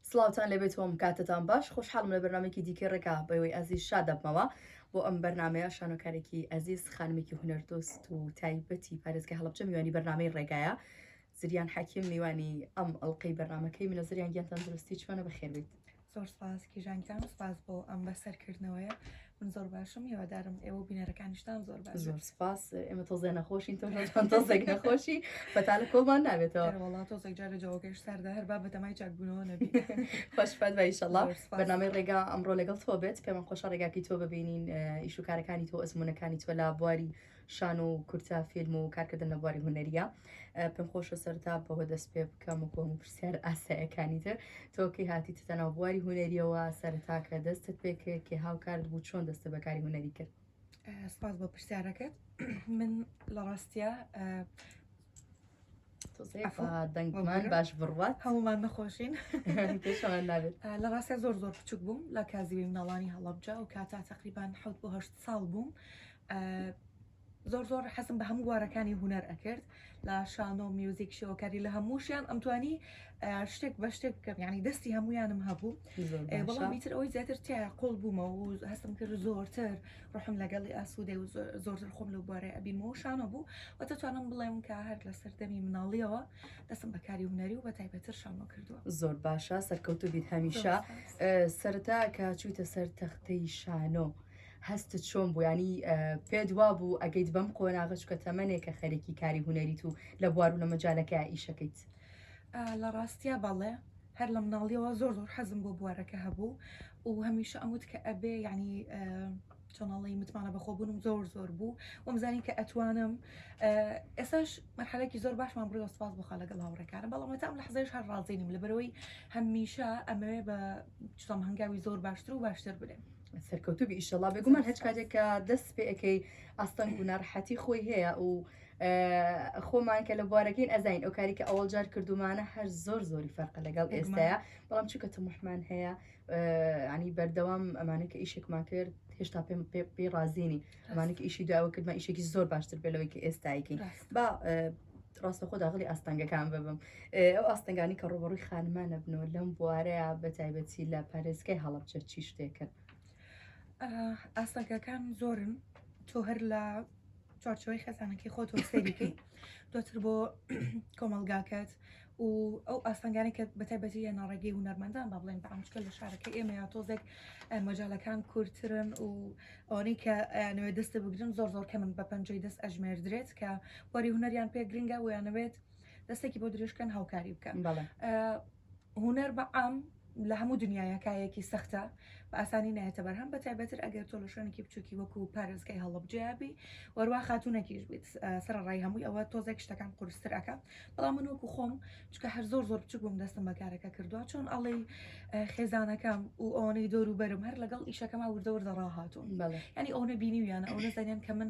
سڵاوتان لێبێت وم کاتتان باش خۆشحاڵم لە بەرنمێکی دیکە ڕێکا بەوەی ئازیز شادەبمەوە بۆ ئەم بەرنمەیە شانۆکارێکی ئازیز خانمێکی هونەردۆست و تایبەتی پارێزگە هەڵبچە میوانی بەرنمەی ڕێگایە زریان حەکیم میوانی ئەم ئەڵلقەی بەرنمەکەی منە زریان گیان تەندروستی چۆنە بەخێبێت زۆر سپاس کیژانگیان سپاس بۆ ئەم بەسەرکردنەوەیە من زۆر باشم هێوادارم ئێوە بینەرەکانیشتان زۆر باش زۆر سپاس ئێمە تۆزێ نەخۆشین تۆ تۆزێک نەخۆشی بەتالە کۆمان نابێتەوە وڵات تۆزێک جارە جاوەکەش ساردا هەر با بەتەمای چاکبوونەوە نەبی خۆشفات بایشەڵا بەنامەی ڕێگا ئەمڕۆ لەگەڵ تۆ بێت پێمان خۆشە ڕێگاکی تۆ ببینین ئیشوکارەکانی تۆ ئەزمونونەکانی تۆ لا بواری شانۆ و کورتە فیلم و کارکردن لە بواری هونەریە پێم خۆشە سەرتا بەوە دەست پێ بکەم و کۆم پرسیار ئاسایەکانی تر تۆکەی هاتی تەناو بواری هونەریەوە سەرتا کە دەستت پێکرد کە هاوکارت بوو چۆن دەستە بەکاری هونەری کرد سپاس بۆ پرسیارەکەت من لە ڕاستە دەنگمان باش بڕات هەمومان نەخۆشین لە ڕاستە زۆر زۆر بچوک بووم لە کازیوی مناڵانی هەڵبجا و کاتا تقریبان حوت بۆ هەشت ساڵ بووم زۆر زۆر حەزم بە هەموو گوارەکانی هوەر ئەکرد لە شانۆ میوزیک شێوەکاری لە هەمووشیان ئەمتوانی شتێک بە شتێک بکەم ینی دەستی هەمویانم هەبوو بەڵام میتر ئەوەی زیاتر تیا قۆڵ بوومە و هەستم کرد زۆرتر ڕحم لەگەڵی ئاسوودێ و زۆرتر خۆم لەو بارێ ئەبیمەوە شانە بوو و دەتوانم بڵێم کە هەر لە سەردەمی مناڵیەوە دەسم بەکاری هوەری و بە تایبەتر شانۆ کردووە زۆر باشە سەرکەوت و بیت هەمیشە سەرتا کە چوویتە سەر تەختەی شانۆ. هەست چۆن بوویانی پێت وا بوو ئەگەیت بەم قۆناغچکە تەمەێکە خەرێکی کاری هوەریت و لە بوار و لە مەجالەکە ئیشەکەیت. لە ڕاستیا بەڵێ هەر لە مناڵیەوە زۆر زۆر حەزم بۆ بوارەکە هەبوو و هەمیشە ئەموت کە ئەبێ یعنی چۆنەڵی متمانە بەخۆبوونم زۆر زۆر بوو وەمزانی کە ئەتوانم ئێساش مەرحەلێکی زۆر باشمان بڕی وەسپاس بخە لەگەڵ هاوڕێکارە بەڵامەتە ئەم لە حزێش هەر ڕازینم لە بەرەوەی هەمیشە ئەمەوێ بە چۆم هەنگاوی زۆر باشتر و باشتر بدەم سەرکەوتوبی ئیشەڵا بێگومان هەچ کاتێکە دەست پێەکەی ئاستەنگ و ناڕحەتی خۆی هەیە و خۆمان کە لە بوارەکەین ئەزین ئەو کاری کە ئەوەڵ جار کردومانە هەر زۆر زۆری فەرقە لەگەڵ ئێستاە بەڵام چکە تەمحمان هەیە ینی بەردەوام ئەمانە کە ئیشێکمان کرد هێشتا پێم پێ ڕازیینی ئەمانە کە ئیشی داوە کردمە ئیشێکی زۆر باشتر بێلەوەی کە ئێستایکەین با ڕاستە خۆ داغلی ئاستەنگەکان ببم ئەو ئاستەنگانی کە ڕوبڕوی خانمانە بنەوە لەم بوارەیە بە تایبەتی لە پارێزگای هەڵبچە چی شتێکن ئاستەنگەکان زۆرن تۆ هەر لە چوارچێوەی خێزانەکەی خۆت و سەیری بکەیت دواتر بۆ کۆمەلگاکەت و ئەو ئاستەنگانی کە بەتایبەتی یە ناڕێگەی هونەرمەندان با بڵێن بەعامچکە لە شارەکە ئێمە یا تۆزێک مەجالەکان کورتترن و ئەوانەی کە نوێ دەستە بگرن زۆر زۆر کە من بە پەنجەی دەست ئەژمێردرێت کە وەری هونەریان پێ گرنگە ویانەوێت دەستێکی بۆ درێژکەن هاوکاری بکەن هونەر بە عام لە هەموو دنیایە کایەکی سەختە بە ئاسانی نایەتە بەرهەم بە تایبەتر ئەگەر تۆ لە شوێنێکی بچووکی وەکو پارێزگای هەڵەبجەیابی وەروا خاتوونەکیش بیت سەرڕای هەمووی ئەوە تۆزێک شتەکان قورستر ئەکا بەڵام من وەکو خۆم چکە هەر زۆر زۆر بچوک بووم دەستم بە کارەکە کردووە چۆن ئەڵێ خێزانەکەم و ئەوانەی دۆر و بەرم هەر لەگەڵ ئیشەکەما وردەوردە ڕاهاتوون ینی ئەوە بینیویانە ئەو نەزانیان کە من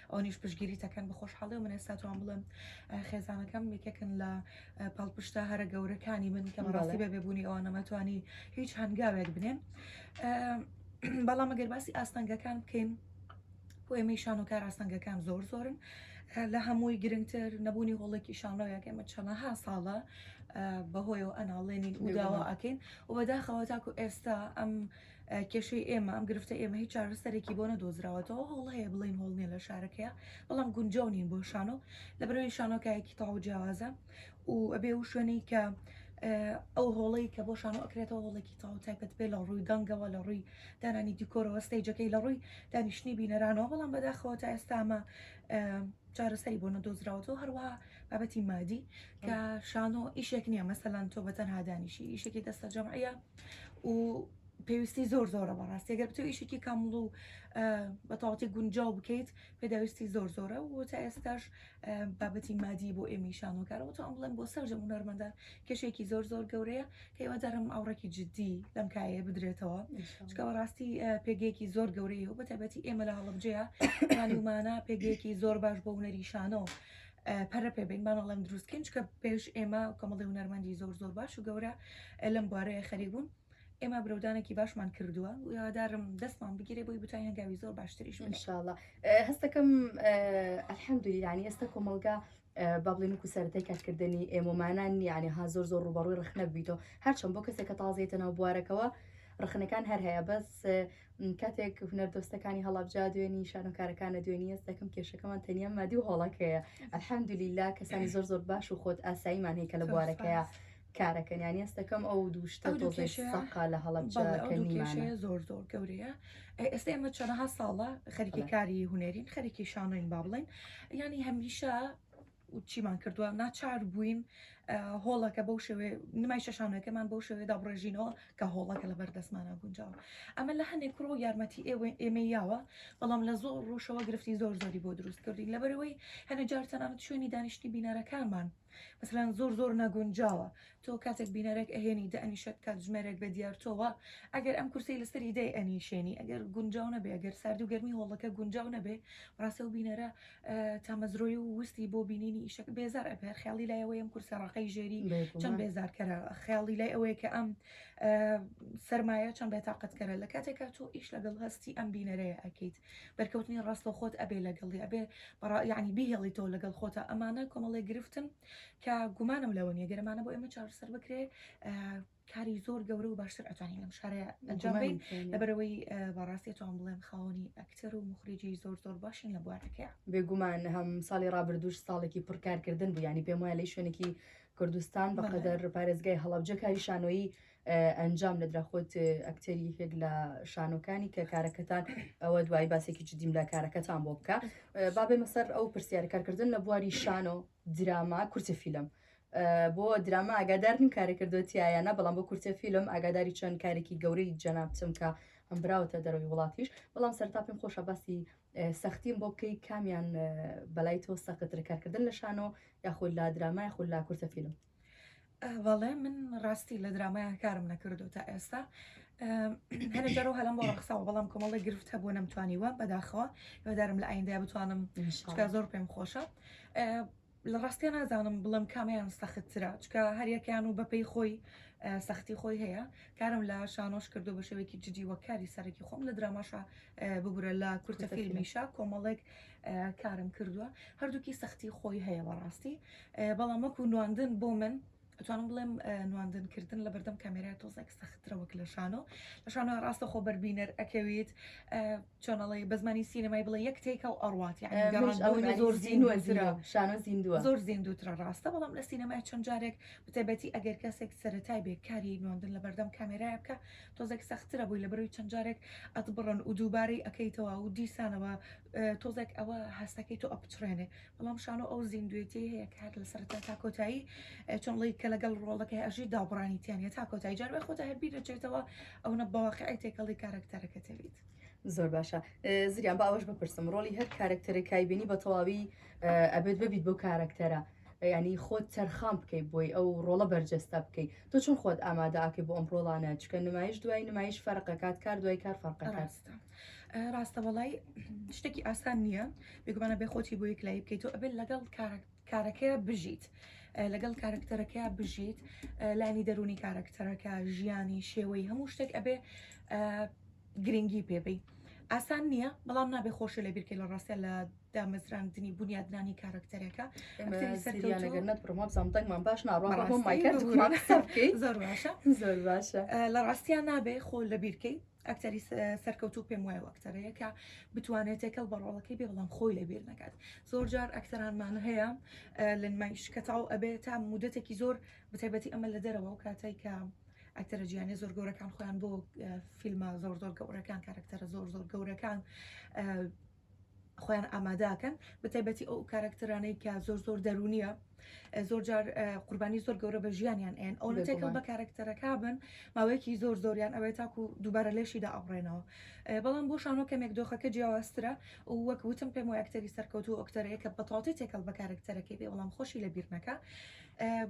ئەونیش پشگیری تەکەن بەخۆشحاڵێ و من ئێستا توان بڵێم خێزانەکەم یەکێکن لە پاڵپشتە هەرە گەورەکانی من کە بەڕاستی بە بێبوونی ئەوە نەمەتوانی هیچ هەنگاوێک بنێم بەڵام ئەگەر باسی ئاستەنگەکان بکەین بۆ ئێمەی شانۆکار ئاستەنگەکان زۆر زۆرن لە هەمووی گرنگتر نەبوونی هۆڵێکی شانۆیەکە ئمە چەنەها ساڵە بەهۆیەوە ئەناڵێنین و داوا ئەکەین و بەداخەوە تاکو ئێستا ئەم کێشەی ئێمە، ئەم گرفتەی ئێمە هیچ چارەسەرێکی بۆ نەدۆزراوەتەوە، هۆڵ هەیە بڵێین هۆڵ نییە لە شارەکەیە، بەڵام گونجاو نین بۆ شانۆ، لەبەرئەوەی شانۆ کایەکی تەواو جیاوازە و ئەبێ ئەو شوێنەی کە ئەو هۆڵەی کە بۆ شانۆ ئەکرێتەوە هۆڵێکی تەواو تایبەت بێ لە ڕووی دەنگەوە لە ڕووی دانانی دیکۆرەوە ستەیجەکەی لە ڕووی دانیشتنی بینەرانەوە بەڵام بەداخەوە تا ئێستامە چارەسەری بۆ نەدۆزراوەتەوە هەروەها بابەتی مادی کە شانۆ ئیشێک نییە مەسەلان تۆ بەتەنها دانیشی ئیشێکی دەستە جەمعە و پێویستی زۆر زۆرە بەڕاستی گەر بتو ئیشێکی کامڵ و بەتەواتی گونجاو بکەیت پێداویستی زۆر زۆرە و تا ئێستاش بابەتی مادی بۆ ئێمی شانۆکارەوە تا ئەمڵێن بۆ سەرجە هونەرمەدا کێشێکی زۆر زۆر گەورەیە کەیوادارم ئاوڕێکی جددی لەم کایە بدرێتەوە چکە بەڕاستی پێگەیەکی زۆر گەورەیە و بەتابەتی ئێمە لە هەڵبجەیە ومانە پێگەیەکی زۆر باش بۆ هونەری شانۆ پەرە پێ بین بان ئەڵێم دروست کەین چکە پێش ئێمە کەمەڵی هونەرمەندی زۆر زۆر باش و گەورە لەم بوارەیە خەری بوون ئێمە برەودانێکی باشمان کردووە یادارم دەستمان بگیرێ بۆی بتای هەنگاوی زۆر باشتریش انشاءله هەستەکەم ئەلحەمدولی ینی ئێستا کۆمەلگا بە بڵێن و سەرەتای کارکردنی ئێمەمانان نیانێ ها زۆر زۆر ڕوبەڕوی ڕخنە بیتەوە هەرچەند بۆ کەسێکە تازێتە ناو بوارەکەەوە ڕخنەکان هەر هەیە بەس کاتێک هونەردۆستەکانی هەڵەبجا دوێنی شانۆکارەکانە دوێنی هەست دەکەم کێشەکەمان تەنیا مادی و هۆڵەکەیە ئەلحەمدلیلا کەسانی زۆر زۆر باش و خۆت ئاساییمان هەیە کە لە بوارەکەیە کارەکەن یانی هەستەکەم ئەو دووشتە ئەو دوو تۆزێک کێشەیە- سەقا لە هەڵەبجا بەڵێ، ئەو کە دوو نیمانە کێشەیە زۆر زۆر گەورەیە ئێ، ئێستا ئێمە چەنەها ساڵە خەریکی بەڵێ. کاری هونەرین خەریکی شانۆین با بڵێن ینی هەمیشە و چیمان کردووە، ناچار بووین هۆڵەکە بەو شێوەیە، نمای چەشانەوەکەمان بەو شێوەیە دابڕێژینەوە کە هۆڵەکە لەبەر دەستمانا گونجاوە. ئەمە لە هەندێک ڕوو یارمەتی ئێمەی یاوە، بەڵام لە زۆر ڕووشەوە گرفتی زۆر زۆری بۆ دروست کردووین، لەبەرئەوەی هەندێک جار تەنانەت شوێنی دانیشتنی بینەرەکانمان مەسەلەن زۆر زۆر نەگونجاوە، تۆ کاتێک بینەرێک ئەهێنی دەئەنیشێت کاتژمێرێک بە دیار تۆوە، ئەگەر ئەم کورسییەی لەسەری دەیئەنیشێنی ئەگەر گونجاو نەبێت، ئەگەر ساردی و گەرمی هۆڵەکە گونجاو نەبێت، بەڕاستی ئەو بینەرە تامەزرۆی و وستی بۆ بینینی ئیشەکە بێزار ئەبێ خیاڵی لای ئەوەیەم کورسە ڕقەی ژێری چەند بێزارکەرە خیاڵی لای ئەوەیە کە ئەم سرمایە چەند بێتاقەتکەرە لە کاتێکا تۆ ئیش لەگەڵ هەستی ئەم بینەرەیە ئەکەیت بەرکەوتنی ڕاستە خۆت ئەبێ لەگەڵی ئەبێ بەڕا یعنی بیهێڵی تۆ لەگەڵ خۆتە ئەمانە کۆمەڵێ گرفتن کە گومانم لەوە نیە گەرمانە بۆ ئێمە چارەسەر بکرێ کاری زۆر گەورە و باشتر ئەتوانین لەم شارە ئەنجام بین لەبەرەوەی بەڕاستی توان بڵێم خاوەنی ئەکتەر و مخریجی زۆر زۆر باشین لە بوارەکەیان بێگومان هەم ساڵی ڕابردوش ساڵێکی پڕکارکردن بوو ینی پێم وایە لەی شوێنێکی کوردستان بە قەدەر پارێزگای هەڵبجە کاری شانۆیی ئەنجام لە دراخۆت ئەکتەری یەکێک لە شانۆکانی کە کارەکەتان ئەوە دوای باسێکی جدیم لە کارەکەتان بۆ بکە بابێ مەسەر ئەو پرسیارکارکردن لە بواری شانۆ دراما کورتە فیلم بۆ دراما ئاگادار نیم کارە کردو تایەنە بەڵام بۆ کورتە فیلم ئاگاداری چەند کارێکی گەورەی جەنابتم کە ئەم براوەتە دەرەوەی وڵاتیش بەڵام سەرتا پێم خۆشە باسی سەختیم بۆ بکەی کامیان بەلای تۆ سەقتر کارکردن لە شانۆ یاخود لا درامای خود لا کورتە فیلم بەڵێ من ڕاستی لە درامایان کارم نەکردو تا ئێستا هەنێک جارەوە هەلم بۆ ڕخساوە بەڵام کۆمەڵی گرفت هەبوو نەمتوانیوە بەداخەوە هێدارم لە ئایندای بتوانم شتکە زۆر پێم خۆشە لە ڕاستە نازانم بڵم کامیان سەختترە چکە هەریەکەیان و بەپی خۆی سەختی خۆی هەیە کارم لە شانۆش کردو بە شێوێکی جدی وە کاری سەرەکی خۆم لە دراماشە ببورە لە کورتە فیلمیشە کۆمەڵێک کارم کردووە هەردووکی سەختی خۆی هەیە بەڕاستی بەڵام وەکو نواندن بۆ من ئەتوانم بڵێم نواندن کردن لە بەردەم کامێرای تۆزێک سەخترە وەک لە شانۆ لە شانۆ ڕاستە خۆ بەربینەر ئەکەویت چۆنەڵی بە زمانی سینەمای بڵێ یەک تێکە و ئەڕات یعنی زۆر زیندوە شانۆ زیندوە زۆر زیندوترە ڕاستە بەڵام لە سینەمای چەند جارێک بتەبەتی ئەگەر کەسێک سەرەتای بێ کاری نواندن لە بەردەم کامێرای بکە تۆزێک سەخترە بووی لە بەروی چەند جارێک ئەتبڕن و دووبارەی ئەەکەیتەوە و دیسانەوە تۆزێک ئەوە هەستەکەی تۆ ئەپچڕێنێ بەڵام شانۆ ئەو زیندوێتیی هەیە کە هەر لە سەرەتا تا کۆتایی چۆن ڵی کە لەگەڵ ڕۆڵەکەی ئەژی دابڕانی تیانە تا کۆتایی جار بە خۆتا هەر بیر دەچێتەوە ئەوەنە بەواقعی تێکەڵی کارەکتەرەکە دەبیت. زۆر باشە زریان باوەش بپرسم ڕۆلی هەر کارەکتەرە کایبینی بە تەواوی ئەبێت ببیت بۆ کارەکتەرە ینی خۆت تەرخان بکەیت بۆی ئەو ڕۆڵە بەرجەستە بکەیت تۆ چون خۆت ئامادەکەی بۆ ئەم ڕۆڵانە چکە نمایش دوای نمایش فەرقەکات کار دوای کار فەرقەکات. ڕاستە وەڵای شتێکی ئاسان نییە بێگومانە بێ خۆتی بۆ یەک لای بکەیت و ئەبێت لەگەڵ کارەکەیە بژیت لەگەڵ کارکتەرەکەیا بژیت لانی دەرونی کارکتەرەکە ژیانی شێوەی هەموو شتێک ئەبێ گرنگی پێبی ئاسان نییە بەڵام نابێ خۆشە لە بیرکە لە ڕاستە لە دامەزراندنی بنیادنانی کارکتەرەکە بڕمۆزانتەنگمان باش ناڕۆمان زۆر باشە زۆر باشە لە ڕاستیان نابێ خۆ لە بیرکەی ئەکتەری سەرکەوتوو پێم وایە ئەکتەرەیە کە بتوانێت تێکەڵ بە ڕۆڵەکەی بێ بەڵام خۆی لەبیر نەکات زۆر جار ئەکتەرانمان هەیە لە نمایش کەتاو ئەبێ تا مدەتێکی زۆر بتەبەتی ئەمە لە دەرەوە و کاتای کە ئەکتەرە جیانە زۆر گەورەکان خۆیان بۆ فیلمە زۆر زۆر گەورەکان کارکتەرە زۆر زۆر گەورەکان خۆیان ئامادەکەن بەتایبەتی ئەو کارکتەرانەی کە زۆر زۆر دەرونیە زۆر جار قوربانی زۆر گەورە بە ژیانیان ئەن ئەو تێکەڵ بە کارکتەرەکە بن ماوەیەکی زۆر زۆریان ئەوێت تاکو دووبارە لەشیدا ئەڕێنەوە بەڵام بۆ شانۆ کەمێک دۆخەکە جیاوازترە و وەک وتم پێم و ئەکتەری سەرکەوت و ئۆکتەرەیە کە بەتەواتی تێکەڵ بە کارکتەرەکەی بێ بەڵام خۆشی لە بیرنەکە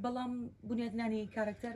بەڵام بنیادنانی کارکتەر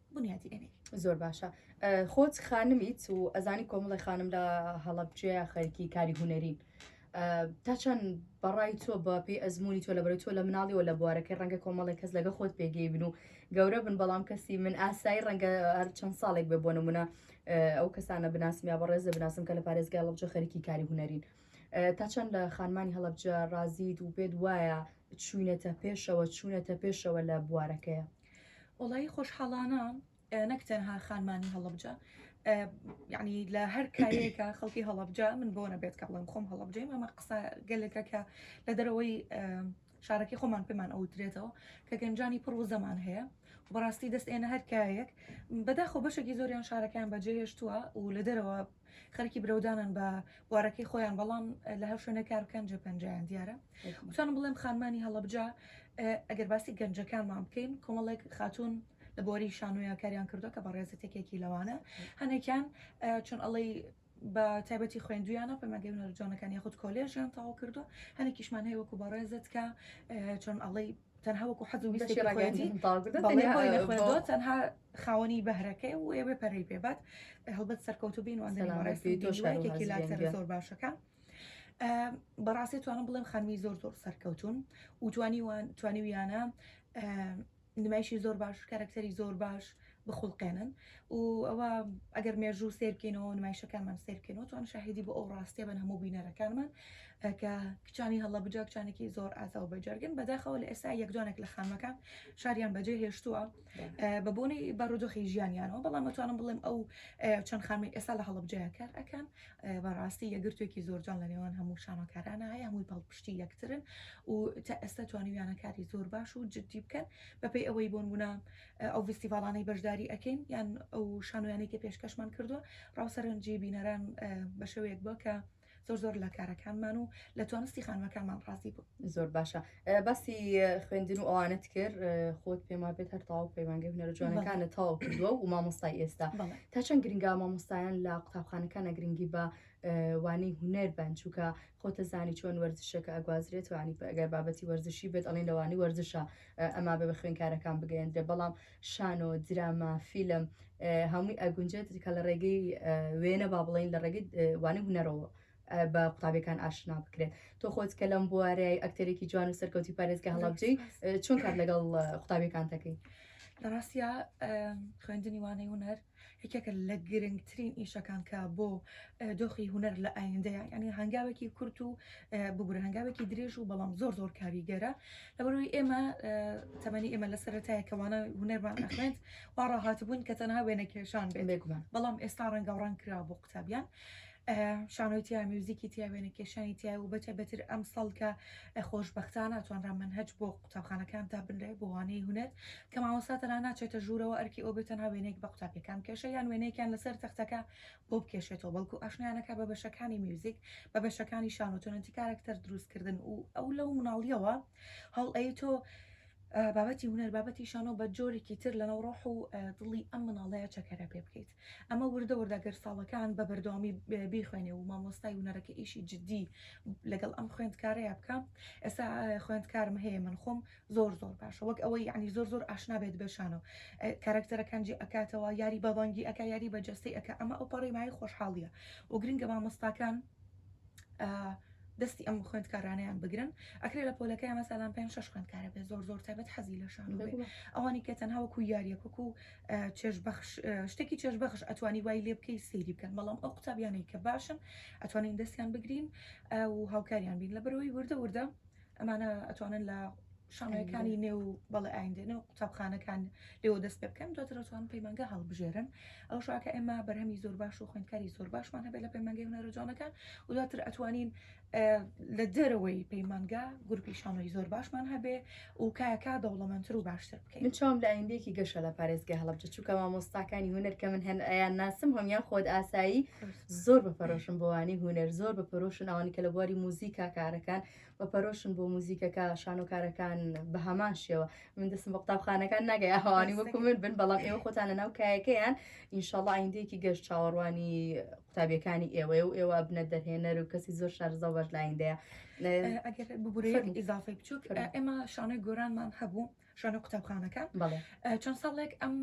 بونیادی ئەنێی. زۆر باشە خۆت خانمیت و ئەزانی کۆمەڵی خانم لە هەڵەبجێ خەرکی کاری هوەرین تا چەند بەڕای تۆ بە پێی ئەزمموی تۆ لە بەرە تۆ لە مناڵی و لە بوارەکەی ڕەنگە کۆمەڵی کەس لەگە خۆت پێگەی بن و گەورە بن بەڵام کەسی من ئاسایی ڕەنگە هەر چەند ساڵێک بێ بۆ نمونە ئەو کەسانە بناسم یا بەڕێز لە بناسم کە لە پارێزگای ڵبجە خەرکی کاری هوەرین تا چەند لە خانمانی هەڵبجە ڕازیت و پێت وایە چوینەتە پێشەوە چوونەتە پێشەوە لە بوارەکەیە وەڵایی خۆشحاڵانە نەک تەنها خانمانی هەڵبجە یعنی لە هەر کارێکە خەڵکی هەڵبجە من بۆ نەبێت کە بڵێم خۆم هەڵبجەیم ئەمە قسە گەلەکە کە لە دەرەوەی شارەکەی خۆمان پێمان ئەوترێتەوە کە گەنجانی پڕ و زەمان هەیە بەڕاستی دەست ئێنە هەرکایەک بەداخۆ بەشێکی زۆریان شارەکەیان بەجێهێشتووە و لە دەرەوە خەرکی برەودانن بە بوارەکەی خۆیان بەڵام لە هەر شوێنە کار بکەن جێ پەنجیان دیارە وتانم بڵێم خانمانی هەڵەبجا ئەگەر باسی گەنجەکانمان بکەین کۆمەڵێک خاتون لە بۆری شانۆیان کاریان کردو کە بەڕێزە تێکێکی لەوانە هەنێکیان چون ئەڵەی بە تایبەتی خوێندویانە پەمەگەی نەرجانەکان یاخود کۆلێژیان تاوا کردو هەنێکیشمان هەیە وەکو بەڕێزت کە چۆن ئەڵەی تەنها وەکو حەزو ویستێکی خۆیەتی بەڵێ بۆی نەخوێندوە تەنها خاوەنی بەهرەکەی و ئێوێ پەرەی پێبات هەڵبەت سەرکەوتو بین وانەڕێستی تۆشارێکی لاکتەر زۆر باشەکە بەڕاستی توانم بڵێم خانمی زۆر زۆر سەرکەوتون و توانی توانیویانە نمایشی زۆر باش کارکتەری زۆر باش بخوڵقێنن و ئەوە ئەگەر مێژوو سەیر بکەینەوە نمایشەکانمان سەیر بکەینەوە توان شاهیدی بۆ ئەو ڕاستیە بن هەموو بینەرەکانمان کە کچانی هەڵەبجە کچانێکی زۆر ئازا و بەجەرگن بەداخەوە لە ئێستا یەکدانێک لە خانمەکان شاریان بەجێ هێشتووە بە بۆنەی بارودۆخی ژیانیانەوە بەڵام مەتوانم بڵێم ئەو چەند خانمی ئێستا لە هەڵبجەیە کار ئەەکەن بەڕاستی یەگرتوێکی زۆرجان لە نێوان هەموو شانۆکارانە هەیە هەمووی پاڵپشتی یەکترن و تا ئێستا توانیویانە کاری زۆر باش و جددی بکەن بەپی ئەوەی بۆن بوونە ئەو ڤیستیڤاڵانەی بەشداری ئەکەین یان ئەو شانۆیانەی کە پێشکەشمان کردووە ڕاو سەرنجی بینەران بە شێوەیەک بووە کە زۆر زۆر لە کارەکانمان و لە توانستی خانمەکانمان ڕازی بوو زۆر باشە باسی خوێندن و ئەوانت کرد خۆت پێم وابێت هەر تاو پەیمانگە هونەرە جوانەکانە تاو کردووە و مامۆستای ئێستا تا چەند گرنگا مامۆستایان لە قوتابخانەکانە گرنگی بە وانەی هونەر بن چووکە خۆتەزانی چۆن وەرزشەکە ئەگوازرێت توانی ئەگەر بابەتی وەرزشی بێت ئەڵین لەوانی وەرزشە ئەما بە بە خوێنکارەکان بگەێندرێ بەڵام شانۆ دراما فیلم هەمووی ئەگونجێت کە لە ڕێگەی وێنە با بڵین لە ڕێگەی وانی هوەرەوە بە قوتابەکان ئاشنا بکرێت تۆ خۆت کە لەم بوارەیە ئەکتەرێکی جوان و سەرکەوتی پارێزگە هەڵبجەی چۆن کار لەگەڵ قوتابەکان دەکەین لە ڕاستە خوێندنی وانەی هوەر یەکێکە لە گرنگترین ئیشەکان کە بۆ دۆخی هوەر لە ئایندەیە یعنی هەنگاوێکی کورت و ببوور هەنگاوێکی درێژ و بەڵام زۆر زۆر کاریگەرە لەبەرەوەی ئێمە تەمەنی ئێمە لە سەرەتایە کەوانە هوەرمان ئەخێنت واڕاهات بوون کە تەنها وێنەکێشان بێ بێگومان بەڵام ئێستا ڕەنگە ڕەنگ کرا بۆ قوتابیان شانۆی تیا میوزیکی تیا وێنە کێشانی تیا و بەتە بەتر ئەم سەڵکە خۆش بەختانە توانرا من هەج بۆ قوتابخانەکان تا بنرێ بۆوانەی هوەر کە ماوەسا تەنا ناچێتە ژوورەوە ئەرکی ئەو بێتەنا وێنێک بە قوتابیەکان کێشە یان وێنێکیان لەسەر تەختەکە بۆ بکێشێتەوە بەڵکو ئاشنایانەکە بە بەشەکانی میوزیک بە بەشەکانی شانۆتۆنەتی کارەکتەر دروستکردن و ئەو لەو مناڵیەوە هەڵ ئەی تۆ بابەتی هوەر بابەتی شانۆ بە جۆرێکی تر لە نەوڕۆح و دڵی ئەم مناڵەیە چەکەرە پێ بکەیت. ئەمە وردە وردە گەر ساڵەکان بە بەردەوامی بیخوێنێ و مامۆستای ونەرەکە ئیشی جددی لەگەڵ ئەم خوێندکارەیە بکە ئێستا خوێندکارم هەیە من خۆم زۆر زۆر باشە وەک ئەوەی یعنی زۆر زۆر ئاشنا بێت بەشانەوە کارکتەرەکانجی ئەکاتەوە یاری بەبانگی ئەک یاری بە جەستەی ئەک ئەمە ئەو پەڕی مای خۆشحاڵیە و گرنگە مامۆستاکان دەستی ئەم خوێندکارانیان بگرن ئەکرێ لە پۆلەکە ئەمە سالان پێ شش خوێندکارە بێ زۆر زۆر تابەت حەزی لە شان ئەوانی کە تەنها وەکو یاریەکوک و چێژ بەخش شتێکی چێژ بەخش ئەتوانی وای لێ بکەی سەیری بکەن بەڵام ئەو قوتابیانەی کە باشن ئەتوانین دەستیان بگرین و هاوکاریان بین لە بەرەوەی وردە وردە ئەمانە ئەتوانن لە شانۆیەکانی نێو بەڵێ ئایندە نێو قوتابخانەکان لێوە دەست پێ بکەن دواتر ئەتوان پەیمانگە هەڵبژێرن ئەو شاکە ئێمە بەرهەمی زۆر باش و خوێندکاری زۆر باشمان هەبێت لە پەیمانگەی هونەرە جوانەکان و دواتر ئەتوانین لە دەرەوەی پەیمانگا گروپی شانۆی زۆر باشمان هەبێ و کاکە دەوڵەمەندتر و باشتر بکەین من چاوم لە ئایندێکی گەشە لە پارێزگای هەڵبجە چووکە مامۆستاکانی هونەر کە من هەن ئەیان ناسم هەمیان خۆت ئاسایی زۆر بە پەرۆشم بۆوانی هونەر زۆر بە پەرۆشن ئەوانی کە لە بواری موزیکا کارەکان بە پەرۆشن بۆ موزیکەکە شانۆکارەکان بە هەمان شێوە من دەسم بە قوتابخانەکان ناگەی ئەهوانی وەکو من بن بەڵام ئێوە خۆتانە ناو کایەکەیان ئینشاڵە ئایندەیەکی گەشت چاوەڕوانی قوتابیەکانی ئێوەیە و ئێوە بنە دەرهێنەر و کەسی زۆر شارزە بەش لایندەیە ئەگەر ببورێ ئیزافی بچووک ئێمە شانۆی گۆرانمان هەبوو شانە قوتابخانەکان چەند ساڵێک ئەم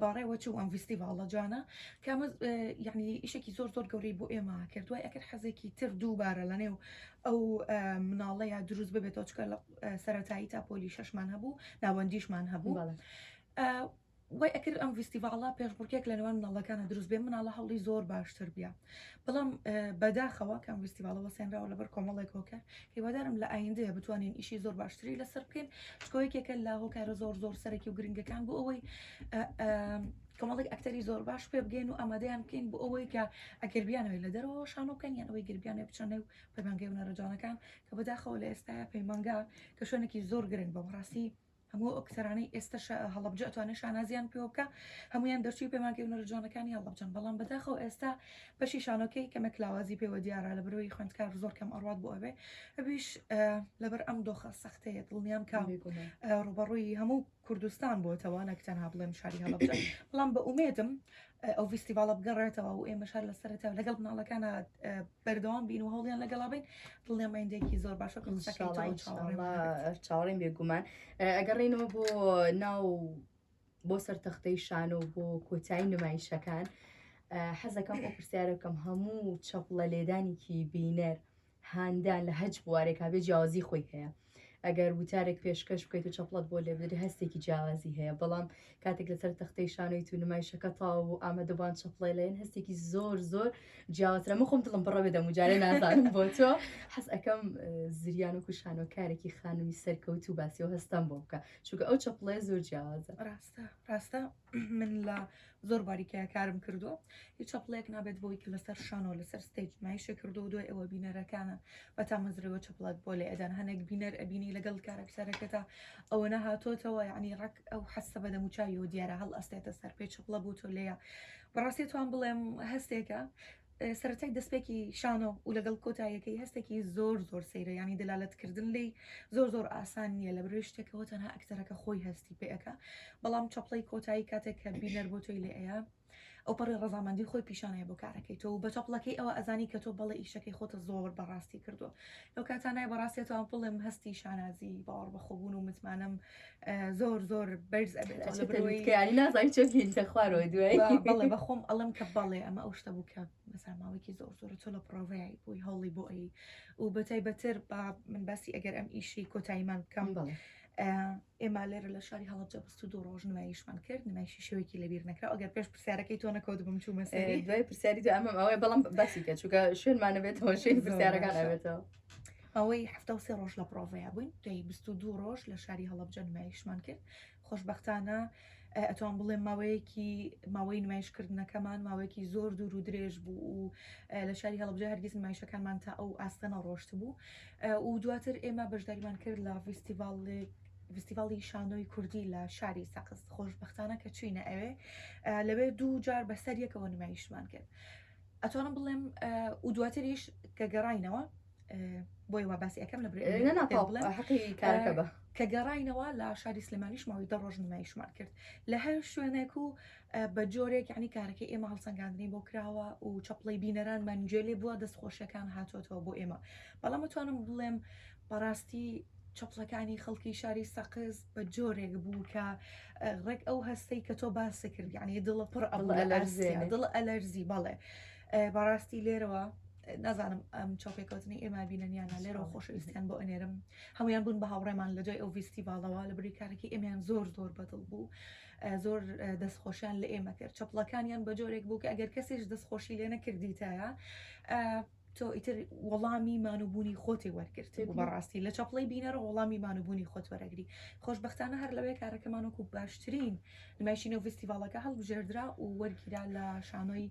بەڕێوە چوو ئەم ڤیستیڤاڵە جوانە کامە یعنی ئیشێکی زۆر زۆر گەورەی بۆ ئێمە کرد دوای ئەکرد حەزێکی تر دووبارە لە نێو ئەو مناڵەیە دروست ببێتەوە چکە لە سەتایی تا پۆلی شەشمان هەبوو ناوەندیشمان هەبوو وای ئەکرد ئەم ڤیستیڤاڵە پێشبڕکێک لە نێوان مناڵەکانە دروست بێ مناڵە هەوڵی زۆر باشتر بە بەڵام بەداخەوە کەم ویستیڤالە وەسێنراوە لەبەر کۆمەڵێک هۆکار هیوادارم لە ئایندەیە بتوانین ئیشی زۆر باشتری لەسەر بکەین چکۆیەکێکە لە هۆکارە زۆر زۆر سەرەکی و گرنگەکان بۆ ئەوەی کۆمەڵێک ئەکتەری زۆر باش پێ بگەین و ئامادەیان بکەین بۆ ئەوەی کە ئەگەربیانەوەی لە دەرەوە شانۆکەن یان ئەوەی گربیانە بچەنە و پەیمانگەی و نەرەجانەکان کە بەداخەوە لە ئێستاە پەیمانگا کە شوێنێکی زۆر گرنگ بە بەڕاستی هەموو ئەو ئەکتەرانەی ئێستا شا هەڵەبجە ئەتوانێ شانازیان پێوە بکا هەموویان دەرچووی پەیمانگەی هونەرە جوانەکانی هەڵەبجەن بەڵام بەداخەوە ئێستا بەشی شانۆکەی کەمێک لاوازی پێوە دیارە لە بەرۆی خوێندکار زۆر کەم ئەڕوات بۆ ئەوێ ئەویش لەبەر ئەم دۆخە سەختەیە دڵنیام کە ڕوبەڕووی هەموو کوردستان بۆتەوە نەک تەنها بڵێم شاری هەڵەبجە بەڵام بە ئومێدم ئەو ڤیستیڤاڵە بگەڕێتەوە و ئێمەش هەر لە سەرەتاوە لەگەڵ مناڵەکانە بەردەوام بین و هەوڵیان لەگەڵا بین دڵنیام ئایندەیەکی زۆر باش وەک قسەکەی تۆ ان شاء الله ئینشاءاللە چاوەڕێین بێگومان ئەگەڕێینەوە بۆ ناو بۆ سەر تەختەی شانە و بۆ کۆتایی نمایشەکان حەزەکەم ئەو پرسیارەکەم هەموو چەپڵە لێدانێکی بینەر هاندان لە هەچ بوارێکا بێ جیاوازی خۆی هەیە ئەگەر وتارێک پێشکەش بکەیت و چەپڵەت بۆ لێبدرێ هەستێکی جیاوازی هەیە بەڵام کاتێک لەسەر تەختەی شانۆی تو نمای شەکە تاو و ئامادەبان چەپڵێ لەێن هەستێکی زۆر زۆر جیاوازرە من خۆم دڵم بڕە بێ دەم جارێ نازانم بۆ تۆ حەز ئەەکەم زریان و کوشانۆکارێکی خانمی سەرکەوت و باسی و هەستم بۆ بکە چونکە ئەو چەپڵێ زۆر جیاوازە ڕاستە ڕاستە من لە زۆر باریکەیە کارم کردو هیچ چەپڵێک نابێت بۆی کە لەسەر شانەوە لەسەر ستەیج نایشە کردو و دوای ئەوە بینەرەکانە بە تامەزرەوە چەپڵەت بۆ لە ئەدان هەنێک بینەر ئەبینی لەگەڵ کارەکتەرەکەتا ئەوە نەهاتۆتەوە یعنی ڕک ئەو حەسە بە دەموچاویەوە دیارە هەڵ ئەستێتە سەر پێ چەپڵە بۆ تۆ لەیە بەڕاستی توان بڵێم هەستێکە سەرەتای دەستپێکی شانۆ و لەگەڵ کۆتاییەکەی هەستێکی زۆر زۆر سەیرە ینی دەلالەتکردن لی زۆر زۆر ئاسان نییە لە بروێ شتێکەوە تەنها ئەکتەرەکە خۆی هەستی پێەکە بەڵام چەپڵی کۆتایی کاتێک کە بینەر بۆ تۆی لێ ئەیە ئەو پەڕی ڕزامەندی خۆی پیشانەیە بۆ کارەکەی تۆ بە چەپڵەکەی ئەوە ئەزانی کە تۆ بەڵێ ئیشەکەی خۆتە زۆر بەڕاستی کردووە لەو کاتانای بەڕاستێتەوە پڵم هەستی شانازی باوەڕ بەخۆبوون و متمانەم زۆر زۆر بەرز ئەبێتیانی نازای چۆکین کە خوارەوە دوای بەڵێ بە خۆم ئەڵم کە بەڵێ ئەمە ئەو شتە بوو کە مەساماوەێکی زۆر زۆر تۆ لە پرۆڤەیە بووی هەوڵی بۆ ئەی و بەتای بەتر با من باسی ئەگەر ئەم ئیشی کۆتاییمان بکەم بڵێ ئێمە لێرە لە شاری هەڵبجە بست و دوو ڕۆژ نمایشمان کرد نمایشی شوێکی لەبیر نەکرا ئەگەر پێش پرسیارەکەی تۆ نەکەوت بم چوو مەسەری دوای پرسیاری دو ئەمەم ئەوەی بەڵم باسی کە چووکە شوێنمانە بێتەوە شوێن پرسیارەکان ئەوێتەوە ئەوەی حەفتا و سێ ڕۆژ لە پرۆڤەیە بووین دەی بیست و دوو ڕۆژ لە شاری هەڵەبجە نمایشمان کرد خۆشببختانە ئەتوان بڵێ ماوەیەکی ماوەی نمایشکردنەکەمان ماوەیەکی زۆر دوور و درێژ بوو و لە شاری هەڵبجە هەرگیز نمایشەکانمان تا ئەو ئاستەنە ڕۆشت بوو و دواتر ئێمە بەشداریمان کرد لە فیستیڤالێک فستیڤاڵی شانۆی کوردی لە شاری سەقز خۆشببختانە کە چوینە ئەوێ لەوێ دوو جار بەسەر یەکەوە نمایشمان کرد. ئەتوانم بڵێم و دواتریش کە گەڕینەوە بۆی وا باسی ئەەکەم لە بڵێکە بە کە گەڕینەوە لە شاری سلێمانیش ماوەی دە ڕۆژ نمایشمان کرد لە هەر شوێنێک و بە جۆرێک عنی کارەکە ئێمە هەڵسەنگاندنی بۆ کراوە و چەپڵی بینەرانمان گوێ لێ بووە دەست خۆشیەکان هاتوۆتەوە بۆ ئێمە بەڵام توانم بڵێم بەڕاستی چەپڵەکانی خەڵکی شاری سەقز بە جۆرێک بوو کە ڕێک ئەو هەستەی کە تۆ باسی کرد یعنی دڵە پڕ ئەڵ دڵ ئەلەرزی بەڵێ بەڕاستی لێرەوە نازانم ئەم چاپێکوتنی ئێمە بینەنیانە لێرەوە خۆشەویستیان بۆ ئەنێرم هەمویان بوون بە هاوڕێمان لە دوای ئەو ڤیستیڤالەوە لە بری کارێکی ئەمیان زۆر زۆر بەدڵ بوو زۆر دەستخۆشیان لە ئێمە کرد چەپڵەکانیان بە جۆرێک بوو کە ئەگەر کەسیش دەستخۆشی لێ نەکردیتایە تۆ ئیتر وەڵامی مانوبوونی خۆتی وەرگرت بەڕاستی لە چەپڵی بینەرە وەڵامی مانوبوونی خۆت وەرەگری خۆشببختانە هەر لەوەیە کارەکەمان وەکو باشترین نمایشینە و فستیڤالەکە هەڵبژێردرا و وەرگیرا لە شانۆی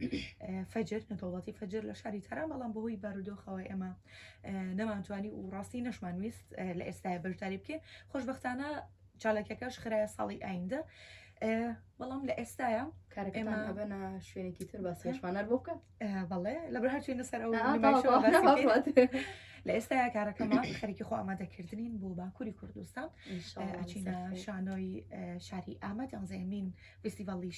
فەجر نەدەوڵەتی فەجر لە شاری تاران بەڵام بەهۆی بارودۆخەوە ئێمە نەمانتوانی و ڕاستی نەشمان ویست لە ئێستای بەشداری بکەین خۆشببختانە چاالکەکەش خراە ساڵی ئایندە بەڵام لە ئێستاە کارەکەمانبەنە شوێنێکی تر بە سێشمانەر بۆ بکە بەڵێ لە بەر هەرچوینە سەر ئەو لە ئێستا کارەکەمە خەریکی خۆ ئامادەکردنین بۆ باکووری کوردستان ئەچینە شانۆی شاری ئامەد ئەنزەمین فستیڤڵی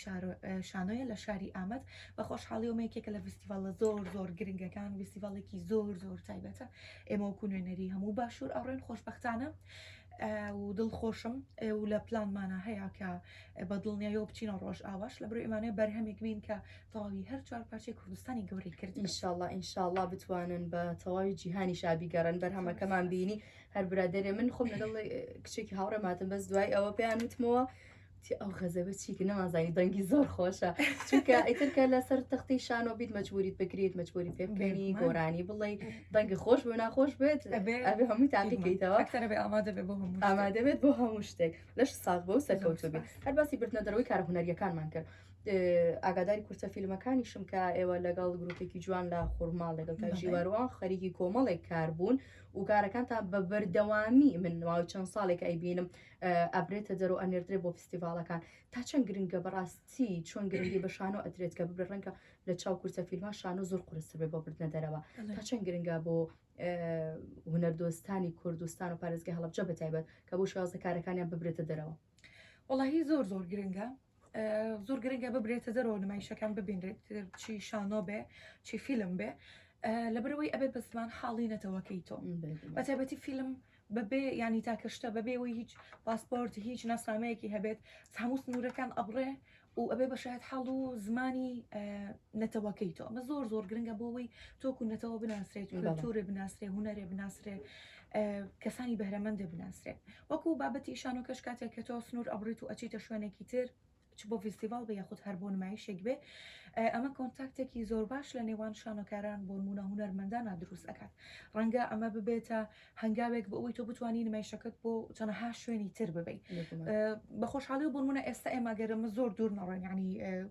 شانۆیە لە شاری ئامەد بە خۆشحاڵی و مێکێکە لە فستیڤڵە زۆر زۆر گرنگەکان فستیڤڵێکی زۆر زۆر تایبەتە ئێمە وکو نوێنەری هەموو باشوور ئەڕێن خۆشببختانە و دڵ خۆشم و لە پلانمانە هەیە کە بە دڵنیایەوە بچینە ڕۆژ ئاواش لە بروێمانێ بەرهەمێک بین کە تەواوی هەر چوار پارچەی کوردستانی گەورەی کرد ئینشاءاللە ئینشاءاللە بتوانن بە تەواوی جیهانی شابی گەڕن بەرهەمەکەمان بینی هەر برادێ من خۆم لەگەڵ کچێکی هاوڕێماتم بەس دوای ئەوە پێیان وتمەوە ئەو غەزەبە چیکە نەمازانی دەنگی زۆر خۆشە چونکە ئیترکە لەسەر تەختی شانۆ بیت مەجبوریت بکرێت مەجبوری پێ بکەنی گۆرانی بڵێ دەنگی خۆش بۆ ناخۆش بێت ئەبێ هەمووی تاقیکەیتەوە کەرەبێ ئامادە بێ بۆ هەموو ئامادە بێت بۆ هەموو شتێک لەش ساغ بۆ سەرکەوتو بێت هەر باسی بردنە دەرەوەی کارهنەریەکانمان کرد ئاگاداری کورتە فیلمەکانیشم کە ئێوە لەگەڵ گروپێکی جوان لە خورماڵ لەگەڵ کاژیواروان خەریکی کۆمەڵێک کار بوون و کارەکان تا بە بەردەوامی من نواوی چەند ساڵێک ئەیبینم ئەبرێتە دەرو ئەنێردرێ بۆ فستیڤالەکان تا چەند گرنگە بەڕاستی چۆن گرنگی بە شانۆ ئەترێت کە ببرە ڕەنگە لە چاو کورتە فیلمان شانۆ زۆر قرسە بێ بۆ بردنە دەرەوە تا چەند گرنگە بۆ هونەردۆستانی کوردستان و پارێزگە هەڵبجە بەتایبەت کە بۆ شازە کارەکانیان ببرێتە دەرەوە وەڵاهی زۆر زۆر گرنگە زۆر گرنگە ببرێتە دەرەوە نمایشەکان ببینرێت چی شانۆ بێ چی فیلم بێ لەبەرەوەی ئەبێ بە زمان حاڵی نەتەوەکەی تۆ بەتابەتی فیلم بەبێ ینی تاکەشتە بەبێەوەی هیچ پاسپۆرت هیچ ناسنامەیەکی هەبێت هەموو سنوورەکان ئەبڕێ و ئەبێ بە شایەت حاڵ و زمانی نەتەوەکەی تۆ ئەمە زۆر زۆر گرنگە بۆ ئەوەی تۆکو نەتەوە بناسرێت و کلتورێ بناسرێ هوەرێ بناسرێ کەسانی بەرەمەندە بناسرێت وەکو بابەتی شانۆکەش کاتێک کە تۆ سنوور ئەبڕیت و ئەچیتە شوێنێکی تر چ بۆ فیستیڤال بە یاخود هەر بۆ نمایشێک بێ ئەمە کۆنتاکتێکی زۆر باش لە نێوان شانۆکاران بۆ نمونە هوەرمەندانە دروست ئەکات ڕەنگە ئەمە ببێتە هەنگاوێک بۆ ئەوەی تۆ بتانی نمایشەکەت بۆ چەنەها شوێنی تر ببیت بە خۆشحاڵی و بۆنمونە ئێستا ئێماگەرمە زۆر دوور نەڕۆین ینی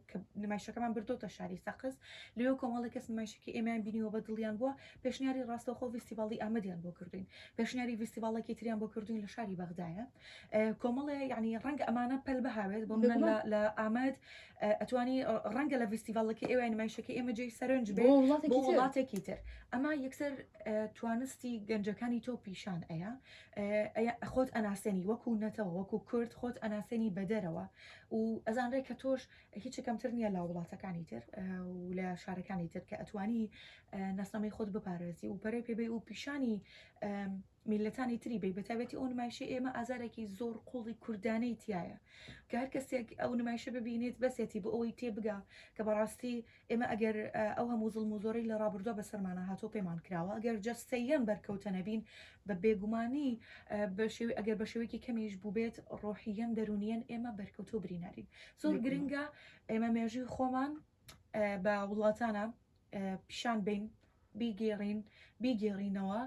کە نمایشەکەمان بردۆتە شاری سەقز لێو کۆمەڵی کەس نمایشەکە ئێمیان بینیەوە بە دڵیان بووە پێشنیاری ڕاستەخۆ ویستیباڵی ئامدیان بۆ کردوین پێشنیاری ویستیباڵێکی تریان بۆ کردوین لە شاری بەغدایە کۆمەڵێ یعنی ڕەنگە ئەمانە پەل بهاوێت بۆ منە لە لە ئامد ئەتوانی ڕەنگە لە ڤیستیڤڵەکە ئێوە نمایشەکە ئێمە جێی سەرنج بۆ وڵاتێکی تر ئەما یەکسەر توانستی گەنجەکانی تۆ پیشان ئەیە خۆت ئەناسێنی وەکو نەتەوە وەکو کورد خۆت ئەناسێنی بەدەرەوە و ئەزانرێ کە تۆش هیچ کەمتر نییە لە وڵاتەکانی تر و لە شارەکانی تر کە ئەتوانی ناسنامەی خۆت بپارێزی و پەرەی پێبێ و پیشانی میللەتانی تری بەی بەتایبەتی ئەو نمایشی ئێمە ئازارێکی زۆر قوڵی کوردانەی تایە کە هەر کەسێک ئەو نمایشە ببینێت بەسێتی بۆ ئەوەی تێبگا کە بەڕاستی ئێمە ئەگەر ئەو هەموو زڵم و زۆرەی لە ڕابردووە بەسەرمانە هاتۆ پێمان کراوە ئەگەر جەستەییان بەرکەوتە نەبین بە بێگومانی بە شێوی ئەگەر بە شێوەیەکی کەمیش بووبێت ڕۆحیەن دەرونیەن ئێمە بەرکەوتۆ برینارین زۆر گرنگە ئێمە مێژووی خۆمان بە وڵاتانە پیشان بەین، بیگێڕین، بیگێڕینەوە،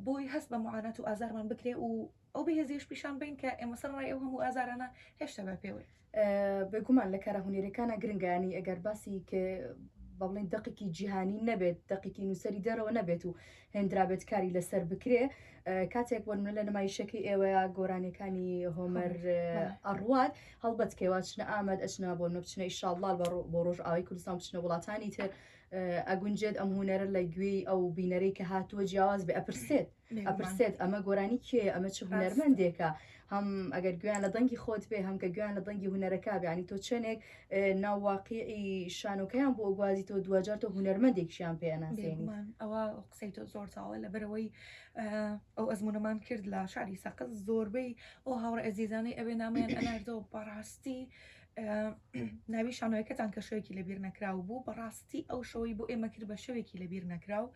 بۆی هەست بە معانات و ئازارمان بکرێ و ئەو بێهێزیەش پیشان بەین کە ئێمە سەرەڕای ئەو هەموو ئازارانە هێشتا بە پێوەی. بێگومان لە کارە هونێرەکانە گرنگانی ئەگەر باسی کە بە بڵین دەقێکی جیهانی نەبێت دەقێکی نووسەری دەرەوە نەبێت و هێندرابێت کاری لەسەر بکرێ کاتێک بۆ منە لە نمایشەکەی ئێوەیە گۆرانەکانی هۆمەر ئەڕوات هەڵبەت کێوا چنە ئامەد ئەچنا بۆ نە بچنە ئیشاڵڵال بۆ ڕۆژ ئاوای کوردستان بچنە وڵاتانی تر ئەگونجێت ئەم هوەرە لە گوێی ئەو بینەرەی کە هاتووە جیاواز بێ ئەپرسێت ئەپرسێت ئەمە گۆرانی کێ ئەمە چ هوەرمەندێکە هەم ئەگەر گوێیان لە دەنگی خۆت بێ هەم کە گوێیان لە دەنگی هونەرەکە بێ ینی تۆ چەندێک ئێ، ناو واقیعی شانۆکەیان بۆ گوازی تۆ دواجار تۆ هونەرمەندێکشیان پێ ئەناسێنی. بێگومان ئەوە قسەی تۆ زۆر چاوە لەبەرئەوەی ئەو ئەزموونەمان کرد لە شاری سەقز زۆربەی ئەو هاوڕێ ئەزیزانەی ئەوێ نامەیان ئەناردەوە بەڕاستی ناوی شانۆیەکەتان کە شەوێکی لەبیر نەکراو بوو بەڕاستی ئەو شەوەی بۆ ئێمە کرد بە شەوێکی لەبیر نەکراو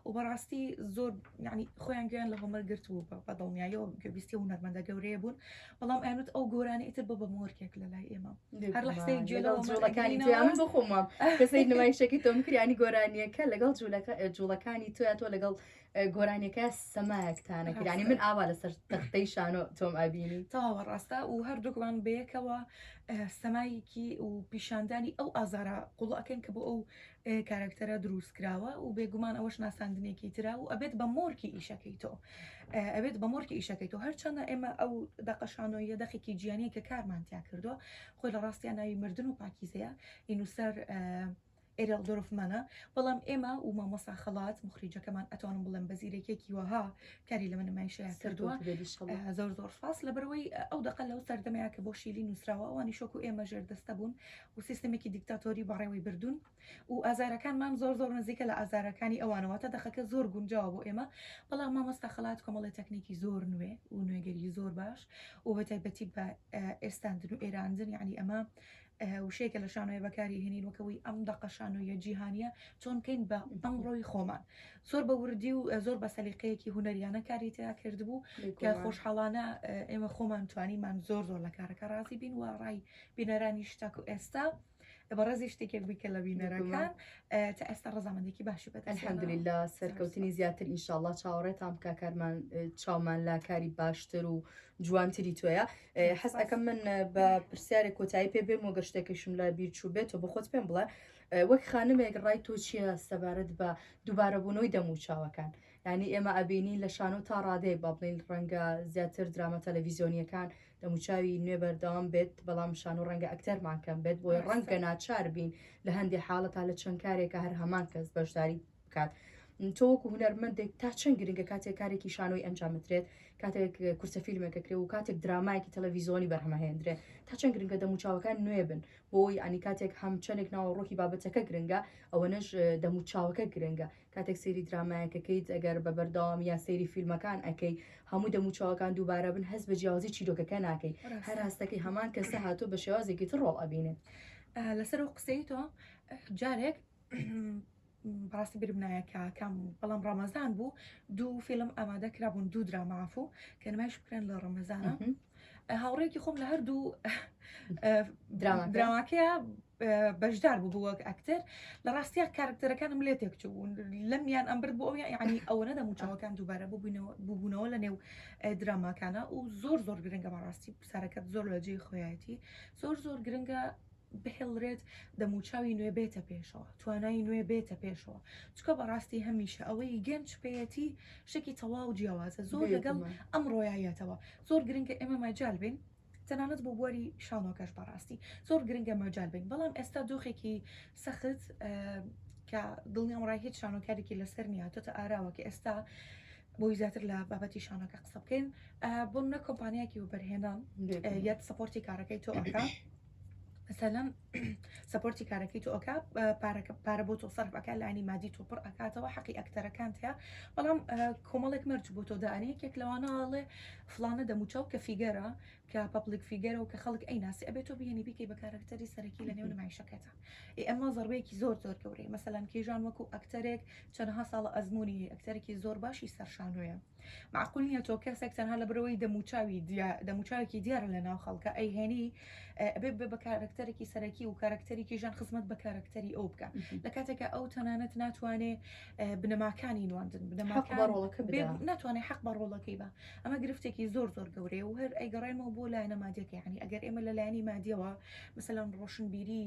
و بەڕاستی زۆر ینی خۆیان گوێن لە هۆمەر گرت بوو بە دڵنیایەوە گوێبیستی و نەرمەندە گەورەیە بوون بەڵام ئەنوت ئەو گۆرانی ئیتر بە بە مۆرکێک لە لای ئێمە هەر لەحسەی گوێ لە جوڵەکانی من بخۆمە کەسەی نمایشەکەی تۆم کریانی گۆرانیەکە لەگەڵ جوولەکە جوڵەکانی تۆیا تۆ لەگەڵ گۆرانیەکە سەمایەک تانە کرانی من ئاوا لەسەر تەختەی شانۆ تۆم ئابینی تاوە ڕاستە و هەردووکمان بەیەکەوە سەمایەکی و پیشاندانی ئەو ئازارە قوڵەکەن کە بۆ ئەو کارکتەرە دروست کراوە و بێگومان ئەوەش ناساندنێکی تررا و ئەبێت بە مۆرکی ئیشەکەی تۆ ئەبێت بە مۆرکی ئیشەکەی تۆ هەرچەندە ئێمە ئەو دەقەشانۆیە دەخێکی گیانی کە کارمانتیا کردووە خۆی لە ڕاستیان ناوی مردن و پاکیزەیە ئینوسەر ئێرل دۆرفمانە بەڵام ئێمە و مامۆسا خەڵات مخریجەکەمان ئەتوانم بڵێم بە زیرەکێکی وەها کاری لەمە نمایشەیە کردووە زۆر زۆر سپاس لەبەرەوەی ئەو دەقە لەو سەردەمەیە کە بۆ شیلی نووسراوە ئەوانی شۆک و ئێمە ژێر دەستە بوون و سیستمێکی دیکتاتۆری بەڕێوەی بردوون و ئازارەکانمان زۆر زۆر نزیکە لە ئازارەکانی ئەوانەوە تا دەخەکە زۆر گونجاوە بۆ ئێمە بەڵام مامۆستا خەڵات کۆمەڵی تەکنێکی زۆر نوێ و نوێگەری زۆر باش و بەتایبەتی بە ئێستاندن و ئێراندن یعنی ئەمە وشەیەکە لە شانۆیە بەکاری هێنین وەکەوەی ئەم دەقە شانۆیە جیهانیە چۆن بکەین بە ئەمڕۆی خۆمان زۆر بە وردی و زۆر بە سەلیقەیەکی هوەریانە کاری تیا کرد بوو کە خۆشحاڵانە ئێمە خۆمان توانیمان زۆر زۆر لە کارەکە ڕازی بین و ڕای بینەرانی شتاک و ئێستا بەڕێزی شتێکێک بووی کە لە بینەرەکان تا ئێستا ڕزامەندێکی باشی بەت الحمدللا سەرکەوتنی زیاتر ئینشاءله چاوەڕێتان بکە کارمان چاومان لا کاری باشتر و جوانتری تۆیە حەز ئەکەم من بە پرسیارێک کۆتایی پێ بێم و گە شتێکیشم لە بیر چوو بێت و بە خۆت پێم بڵێ وەک خانمێک ڕای تۆ چییە سەبارەت بە دووبارەبوونەوەی دەم و چاوەکان ینی ئێمە ئەبینی لە شانۆ تا ڕادەیە با بڵین ڕەنگە زیاتر درامە تەلەڤیزیۆنیەکان دەموچاوی نوێ بەردەوام بێت بەڵام شان و ڕەنگە ئەکتەرمانکەم بێت بۆی ڕەنگە ناچار بین لە هەندێک حاڵەتا لە چەند کارێکە هەر هەمان کەس بەشداری بکات تۆ وەکو هوەرمەندێک تا چەند گرنگە کاتێک کارێکی شانۆی ئەنجام بدرێت کاتێک کورسە فیلمێکە کرێ و کاتێک درامایکی تەلەڤیزۆنی بەرهەمەهێندرێ تا چەند گرنگە دەموچاوەکان نوێ بن بۆی ئەنی کاتێک هەم چەندێک ناوە ڕۆکی بابەتەکە گرنگە ئەوەنەش دەموچاوەکە گرنگە کاتێک سێری درامایەکەکەیت ئەگەر بە بەردەوام یا سێری فیلمەکان ئەەکەی هەموو دەموچاوەکان دووبارە بن هەست بە جیاوازی چیرۆکەکە ناکەی هەر هەستەکەی هەمان کەسە هاتۆ بە شێوازێکی تر ڕۆڵ ئەبینێت لەسەر و قسەی تۆ جارێک بەڕاستی بیرم نایە کە کام بوو بەڵام ڕەمەزان بوو دوو فیلم ئامادە کرابوون دوو دراما عفو کە نمایش بکرێن لە ڕەمەزانە هاوڕێکی خۆم لە هەردوو دراما دراواکەیە بەشدار بوو بووەک ئەکتەر لە ڕاستیا کارکتەرەکانم لێ تێکچوون لەم یان ئەمبرد بۆ ئەو یعنی ئەوە نەدە موچەوەکان دووبارە ببووینەوە ببوونەوە لە نێو دراماکانە و زۆر زۆر گرنگە بەڕاستی پرسارەکەت زۆر لە جێی خۆیەتی زۆر زۆر گرنگە بهێڵرێت دەموچاوی نوێ بێتە پێشەوە توانای نوێ بێتە پێشەوە چکە بەڕاستی هەمیشە ئەوەی گەنج پێەتی شتێکی تەواو جیاوازە زۆر لەگەڵ ئەم ڕۆایەتەوە زۆر گرنگە ئێمە مەجال بین تەنانەت بۆ بواری شانۆکەش بەڕاستی زۆر گرنگە مەجال بین بەڵام ئێستا دۆخێکی سەخت کە دڵنیام ڕای هیچ شانۆکارێکی لەسەر نیە تۆتە ئاراوە کە ئێستا بۆی زیاتر لە بابەتی شانەکە قسە بکەین بۆ منە کۆمپانیاکی وبەرهێنان یاد سپۆرتی کارەکەی تۆ ئەکە سەلەم سەپۆرتی کارەکەی تۆ ئەکا پارەکە پارە بۆ تۆ سەرف ئەکا لانی مادی تۆ پڕ ئەکاتەوە حەقی ئەکتەرەکان تیا بەڵام کۆمەڵێک مەرج بۆ تۆ دانێ یەکێک لەوانەڵێ فلانە دەموچاو کە فیگەرە کە پەپلیک فیگەرە و کە خەڵک ئەی ناسی ئەبێت تۆ بهێنی بیکەی بە کارەکتەری سەرەکی لە نێو نمایشەکەتە ئەمە زەربەیەکی زۆر زۆر گەورەی مەسەلەن کیژان وەکو ئەکتەرێک چەندها ساڵە ئەزمموی ئەکتەرێکی زۆر باشی سەرشانۆیە مەعقول نیە تۆ کەسێک تەنها لەبرەوەی دەموچاوی دەموچاوێکی دیارە لە ناو خەڵکە ئەی هێنی ئەبێ بێ بە کارەکتەرێکی سەرەکی و کارەکتەرێکی ژان خزمەت بە کارەکتەری ئەو بکە لە کاتێکە ئەو تەنانەت ناتوانێ بنەماکانی نواندن بنەماکەڕۆڵەکە ناتوانێت حق بە ڕۆڵەکەی بە ئەمە گرفتێکی زۆر زۆر گەورەیە و هەر ئەیگەڕێمەوە بۆ لایەنە مادیەکە یعنی ئەگەر ئێمە لە لایەنی مادیەوە مثلەن ڕۆشنبیری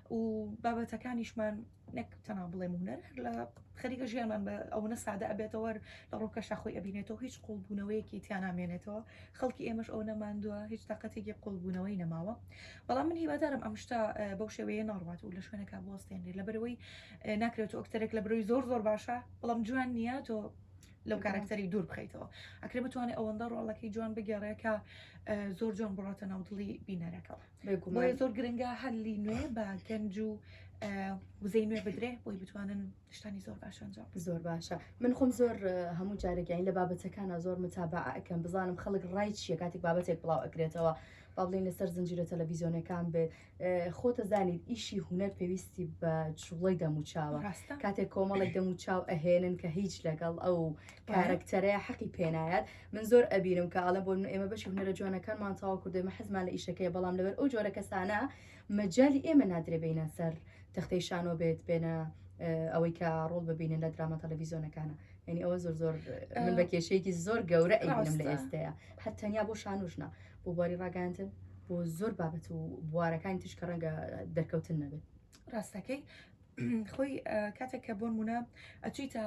و بابەتەکانیشمان نەک تەنها بڵێم هونەر هەر لە خەریکە ژیانمان بە ئەوەنە سادە ئەبێتەوە لە ڕۆکەشە خۆی ئەبینێتەوە هیچ قوڵبوونەوەیەکی تیانامێنێتەوە خەڵکی ئێمەش ئەو نەماندووە هیچ تااقەتێکی قوڵبوونەوەی نەماوە بەڵام من هیوادارم ئەم شتا بەو شێوەیە ناڕات و لە شوێنەکە بۆستێنێ لە بەرەوەی ناکرێت ئۆکتەرێک لە برۆی زۆر زۆر باشە بەڵام جوان نییە تۆ لەو کارکتەری دوور بخیتەوە ئەکرێ بتوانێت ئەوەندە ڕۆڵەکەی جوان بگەڕێکە زۆر جوان بڕاتە ناودڵی بینەرەکەەوە بۆیە زۆر گرنگە هەلی نوێ بە گەنج و وزەی نوێ بدرێ بۆی بتوانن شتانی زۆر باشەنجام زۆر باشە من خۆم زۆر هەموو جارێکیان لە بابەتەکانە زۆر متابعکەم بزانم خەڵک ڕای چیە کاتێک بابەتێک بڵاو ئەکرێتەوە بابلین لەسەر زنجیرە تەلەڤیزیۆنەکان بێت خۆتە زانیت ئیشی هوەر پێویستی بە جوڵی دەموچاوە کاتێک کۆمەڵێک دەموچاو ئەهێنن کە هیچ لەگەڵ ئەو کارەکتەرەیە حەقی پێنایەت من زۆر ئەبینم کە ئاڵم بۆ من ئێمە بەشی هونەرە جوانەکانمان تاوا کردو ئێمە حەزمان لە ئیشەکەی بەڵام لەبەر ئەو جۆرە کەسانە مەجای ئێمە نادرێ بینە سەر تەختەی شانۆ بێت بێنە ئەوەی کە ڕۆڵ ببینن لە دراما تەلەڤیزیۆنەکانە یعنی ئەوە زۆر زۆر من بە کێشەیەکی زۆر گەورە ئەینم لە ئێستەیە هەر تەنیا بۆ شانوشنا بۆ بواری ڕاگەاندن بۆ زۆر بابەت و بوارەکانی تیش کە ڕەنگە دەرکەوتن نەبێت ڕاستەکەی خۆی کاتێک کە بۆن مونە ئەچیتە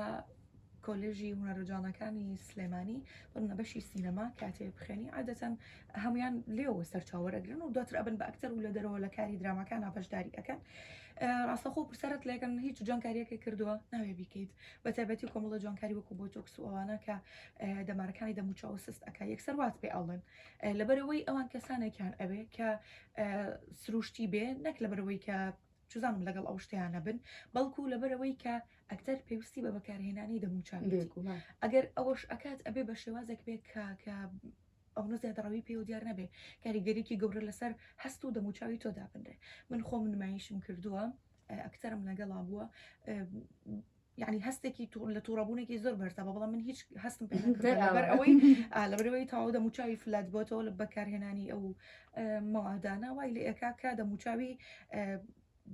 کۆلێژی هونەرو جاڵەکانی سلێمانی پڕنە بەشی سینەما کاتێ بخێنی عادەتەن هەموان لێوە سەرچاوەرەگرن و دواتر ئەبن بە ئەکتەر و لە دەرەوە لە کاری دراماکان ناپەشداری ئەەکەن ڕاستەخۆ پرسەرت لەکەن هیچ جوانکاریەکە کردووە ناوێ بیکەیت بە تایبەتی کۆمەڵە جوانکاری وەکو بۆ تۆکس و ئەوانە کە دەمارەکانی دەموچاو سست ئەک یەکسەر وات پێ ئەڵێن لەبەرەوەی ئەوان کەسانێکیان ئەوێ کە سروشتی بێ نەک لەبەرەوەی کە چزم لەگەڵ ئەو شتەیان نەبن بەڵکو لەبەرەوەی کە ئەکتەر پێویستی بە بەکارهێنانی دەموچاوێت ئەگەر ئەوەش ئەکات ئەبێ بە شێوازێک بێ کە کە ئەوە زیادڕەوی پێ و دیار نەبێ کاریگەریکی گەورە لەسەر هەست و دەموچاوی تۆدا بنرێ من خۆم نمایشم کردووە ئەکتەرم لەگەڵا بووە یعنی هەستێکی تو لە تووڕەبوونێکی زۆر بەرزە بە بەڵام من هیچ هەستم پێ نەکرد دەر ئەوە. لەبەر ئەوەی ئا، لەبەرەوەی تەواو دەموچاوی فلات بۆتەوە لە بەکارهێنانی ئەو ئە، مەوادانە وای لێ ئەکا کە دەموچاوی ئە،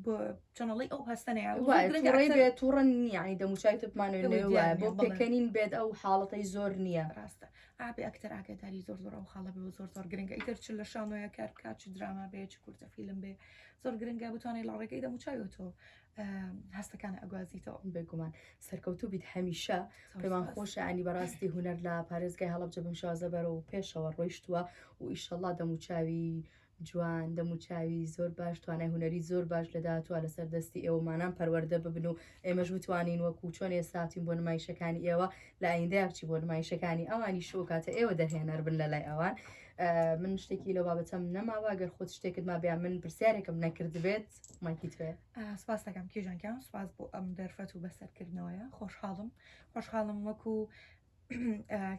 بۆ چەنەڵەی ئەو هەستە نەیات و وایە گرنگە تووڕەی ئەکسەر بێت تووڕە نییە یعنی دەموچاوی تۆ بمانەوەی ئەوەی لەوێ دیار وایە نییە، بۆ بەڵێ. پێکەنین بێت ئەو حاڵەتەی زۆر نییە ڕاستە ئابێ ئەکتەر ئاگاداری زۆر زۆر ئەو خاڵە بێ و زۆر زۆر گرنگە ئیتر چ لە شانۆیە کار بکات چ دراما بێ چ کورتە فیلم بێ زۆر گرنگە بتوانێت لە ڕێگەی دەموچاوی تۆ هەستەکانە ئەگوازیتەوە. بێگومان سەرکەوتوو بیت هەمیشە پێمان خۆشە ئەنی بەڕاستی هونەر لە پارێزگای هەڵەبجە بم شازە بەرەوە پێشەوە ڕۆیشتووە و ئیشەڵا دەموچاوی جوان دەموچاوی زۆر باش توانای هوەری زۆر باش لە داهاتوە لەسەر دەستی ئێوەمانان پەروەەردە ببن و ئێمەش بتوانین وەکو چۆن ئێساتین بۆ نمایشەکانی ئێوە لە ئایندەیە بچی بۆ نمایشەکانی ئەوانی شوکاتە ئێوە دەرهێنەر بن لە لای ئەوان من شتێکی لە بابەتەم نەماوە گەر خۆت شتێکت ما بیا من پرسیارێکم نەکردبێت. بێت. مایکی تکایە. سوپاستەکەم کیژان گیان سوپاس بۆ ئەم دەرفەت و بەسەرکردنەوەیە خۆشحاڵم خۆشحاڵم وەکو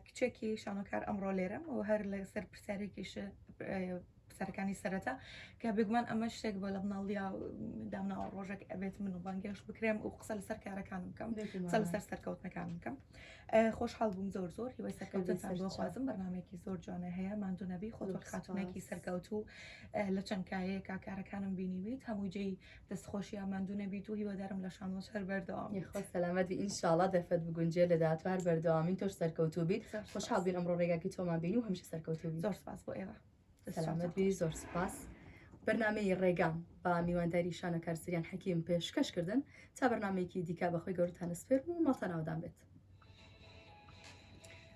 کچێکی شانۆکار ئەمڕۆ لێرەم و هەر لە سەر پرسیارێکیش سەرەکانی سەرەتا کە بگومان ئەمە شتێک بۆ لە مناڵیا دامناوە ڕۆژێک ئەبێت من و بانگێش بکرێم و قسە لەسەر کارەکانم بکەم قسە لەسەر سەرکەوتنەکانم بکەم خۆشحاڵ بووم زۆر زۆر هیوای سەرکەوتنتان بۆ خوازم بەرنمێکی زۆر جوانە هەیە ماندو نەبی خۆ زۆر خاتونێکی سەرکەوت و لە چەند کایەیە کاکارەکانم بینیویت هەموو جێی دەستخۆشیە ماندو نەبیت و هیوادارم لە شانۆ سەر بەردەوام خۆ سەلامەتی ئینشاڵا دەرفەت بگونجێ لە دااتوار بەردەوامی تۆش سەرکەوتوبیت خۆشحاڵ بین ئەمڕۆ ڕێگاکی تۆمان بینی و هەمیشە سەرکەوتوبی زۆر سپاس بۆ ئێوە سەلامەت بی زۆر سپاس بەرنمەی ڕێگام بە میوانداری شانە کارسریان حەکیم پێشکەش کردن تا بەرنمەیەکی دیکە بەخۆی گەورتانە سپێر و مەڵتەناودان بێت.